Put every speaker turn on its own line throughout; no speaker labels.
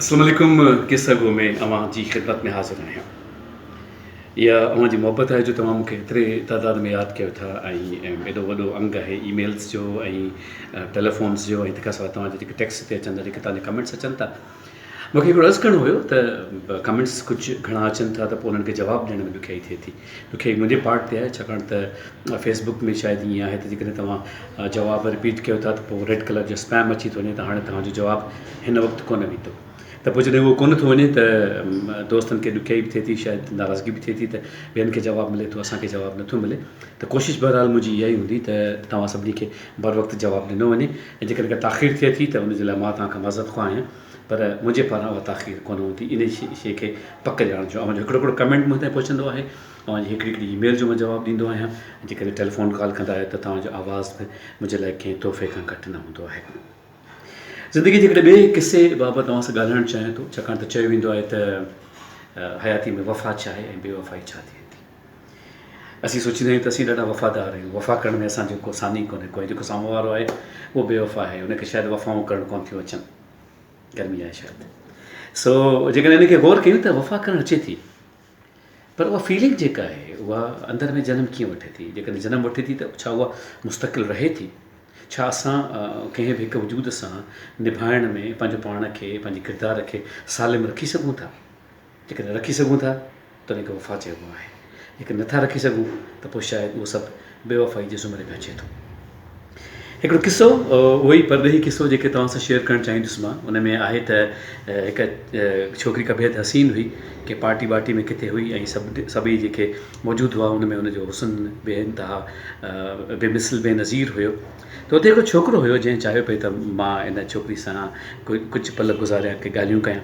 اسلام عليڪم قصه گو ۾ اوهان جي خدمت ۾ حاضر آهيان اها اوهان جي محبت آهي جو توهان مونکي ايتري تعداد ۾ ياد ڪيو ٿا ۽ ايڏو وڏو انگ آهي اي ميلز جو ۽ ٽيليفونز جو ۽ تنهنکان سواء توهان جي جيڪي ٽيڪس تي اچن ٿا جيڪي توهان جا ڪمينٽس اچن ٿا مونکي هڪڙو عرض ڪرڻو هيو ته ڪمينٽس ڪجهه گهڻا اچن ٿا ته پوء انهن کي جواب ڏيڻ ۾ ڏکيائي ٿئي ٿي تو کي منهنجي پارٽ تي آهي ڇاڪاڻ ته فيس بڪ ۾ شايد ائين آهي ته جيڪڏهن توهان جواب رپيٽ ڪيو ٿا ته پوء ريڊ ڪلر جو اسپيم اچي ٿو وڃي ته هاڻي توهان جو جواب هن وقت ڪونه ويندو ته پوء جڏهن اهو ڪونه ٿو وڃي ته دوستن کي ڏکيائي به ٿئي ٿي شايد ناراضگي به ٿئي ٿي ته ٻين کي جواب ملي ٿو اسان کي جواب نٿو ملي ته ڪوشش بهرحال منهنجي اها ئي هوندي ته توهان سڀني کي بروقت جواب ڏنو وڃي ۽ جيڪڏهن ڪا تاخير ٿئي ٿي ته ان جي لاء مان توهان کان معذرت خواه آهيان پر منهنجي پاران اها تاخير ڪونه هوندي انهي شيء کي پڪ ڄاڻڻ جو اوهان جو هڪڙو هڪڙو ڪمينٽ مون تائين پهچندو آهي اوهان جي هڪڙي هڪڙي اي ميل جو مان جواب ڏيندو آهيان جيڪڏهن ٽيليفون ڪال ڪندا آهيو ته توهان جو آواز به منهنجي لاء ڪنهن تحفي کان گهٽ نه هوندو آهي زندگي جي هڪڙي ٻئي قصي بابت اوهان سان ڳالهائڻ چاهيان ٿو ڇاڪاڻ ته چيو ويندو آهي ته حياتي ۾ وفا ڇا آهي ۽ بي وفائي ڇا ٿئي ٿي اسين سوچيندا آهيون ته اسين ڏاڍا وفادار آهيون وفا ڪرڻ ۾ اسان جو ڪو ساني ڪونهي ڪوئي جيڪو سامهون وارو آهي اهو بي وفا آهي ان کي شايد وفائون ڪرڻ ڪون ٿيون اچن گرمي آهي شايد سو جيڪڏهن ان کي غور ڪيون ته وفا ڪرڻ اچي ٿي پر اها فيلنگ جيڪا آهي اها اندر ۾ جنم ڪيئن وٺي ٿي جيڪڏهن جنم وٺي ٿي ته ڇا اها مستقل رهي ٿي ڇا اسان ڪنهن به هڪ وجود سان نڀائڻ ۾ پنهنجو پاڻ کي پنهنجي ڪردار کي سالم رکي سگهون ٿا جيڪڏهن رکي سگهون ٿا تڏهن کي وفا چئبو آهي، جيڪڏهن نه ٿا رکي سگهون ته پوء شايد اهو سڀ بي وفائي جي زمري ۾ اچي ٿو. هڪڙو قصو، اهو ئي پرڏيهي قصو جيڪي توهان سان شيئر ڪرڻ چاهيندس مان ان ۾ آهي ته هڪ ڇوڪري ڪا بيحد حسين هئي، ڪنهن پارٽي وارٽي ۾ ڪٿي هئي ۽ سڀ سڀئي جيڪي موجود هئا ان ۾ ان جو حسن بي انتها بي مثل بي نظير هيو ته اتي هڪڙو ڇوڪرو هيو جنهن چاهيو پئي ته مان ان ڇوڪري سان ڪجهه پل گذاريان ڪي ڳالهيون ڪيان.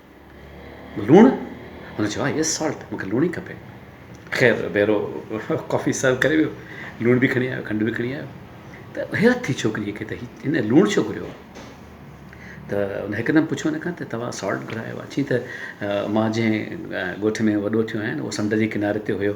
لوڻ؟ هن چيو، Yes salt، مون کي لوڻ ئي کپي. خير ويرو ڪافي سرو ڪري ويو. لوڻ به کڻي آيو، کنڊ به کڻي آيو. ته حيرت ٿي ڇوڪريء کي ته هن لوڻ ڇو گهريو آهي؟ ته هن هڪدم پڇيو هن کان ته توهان سالٽ گهرايو آهي؟ چيائين ته مان جنهن ڳوٺ ۾ وڏو ٿيو آهيان، اهو سمنڊ جي ڪناري تي هيو.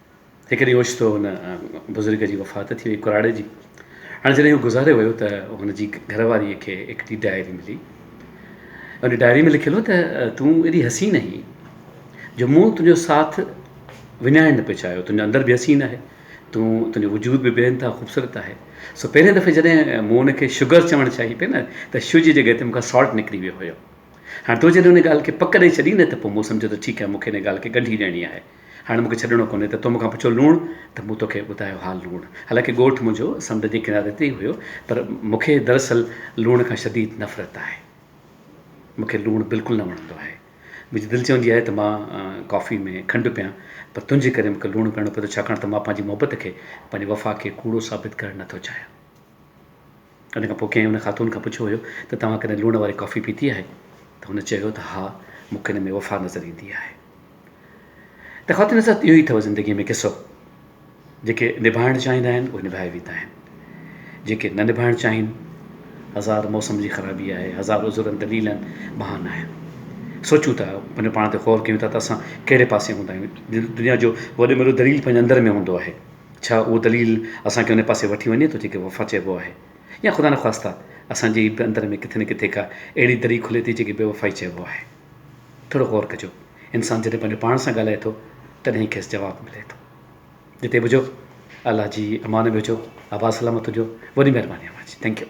هڪ ڏينهن اوچتو ان بزرگ جي وفات ٿي وئي ڪراڙي جي هاڻي جڏهن هو گذاري ويو ته هن جي گهر واري کي هڪڙي ڊائري ملي ان ڊائري ۾ لکيل هو ته تون ايڏي حسين آهين جو مون تنهنجو ساٿ وڃائڻ نه پئي چاهيو تنهنجو اندر به حسين آهي تون تنهنجو وجود به بي انتها خوبصورت آهي سو پهرين دفعي جڏهن مون ان کي شگر چوڻ چاهي پئي نه ته شو جي جڳهه تي مون کان سالٽ نڪري ويو هيو هاڻي تو جڏهن ان ڳالهه کي پڪ ڏئي ڇڏي نه ته پوء مون سمجهيو ته ٺيڪ آهي مون کي ان ڳالهه کي ڳنڍي ڏيڻي آهي هاڻي مون کي ڇڏڻو ڪونهي ته تو مون کان پڇيو لوڻ ته مون توکي ٻڌايو ها لوڻ. حالانڪه ڳوٺ منهنجو سمنڊ جي ڪناري تي ئي هيو پر مون کي دراصل لوڻ کان شديد نفرت آهي. مون کي لوڻ بلڪل نه وڻندو آهي. منهنجي دل چوندي آهي ته مان ڪافي ۾ کنڊ پيان پر تنهنجي ڪري مون کي لوڻ پيڻو پوي ٿو ڇاڪاڻ ته مان پنهنجي محبت کي پنهنجي وفا کي ڪوڙو ثابت ڪرڻ نه ٿو چاهيان. ان کان پوء ڪنهن ان خاتون کان پڇيو هيو ته توهان ڪڏهن لوڻ واري ڪافي پيتي آهي؟ ته هن چيو ته ها، مون کي ان ۾ وفا نظر ايندي آهي. ته خواتين سان اهو ئي اٿئو زندگيء ۾ قصو. جيڪي نڀائڻ چاهيندا آهن، اهي نڀائي ويندا آهن. جيڪي نه نڀائڻ چاهين، هزار موسم جي خرابي آهي، هزار عذرن، دليلن، بهانا آهن. سوچون ٿا، پنهنجو پاڻ تي غور ڪيون ٿا ته اسان ڪهڙي پاسي هوندا آهيون. دنيا جو وڏي ۾ وڏو دليل پنهنجي اندر ۾ هوندو آهي. ڇا اهو دليل اسان کي ان پاسي وٺي وڃي ٿو جنهن کي وفا چئبو آهي يا خدا نخواسته اسان جي ئي به اندر ۾ ڪٿي نه ڪٿي ڪا اهڙي دري کلي ٿي جنهن کي بيوفائي چئبو آهي. ٿورو غور ڪجو انسان جڏهن پنهنجو پاڻ سان ڳالهائي ٿو تڏهن ئي کيس جواب ملي ٿو. جتي به هجو الله جي امان ۾ هجو آباد سلامت هجو وڏي مهرباني اوهان جي ٿينڪ يو.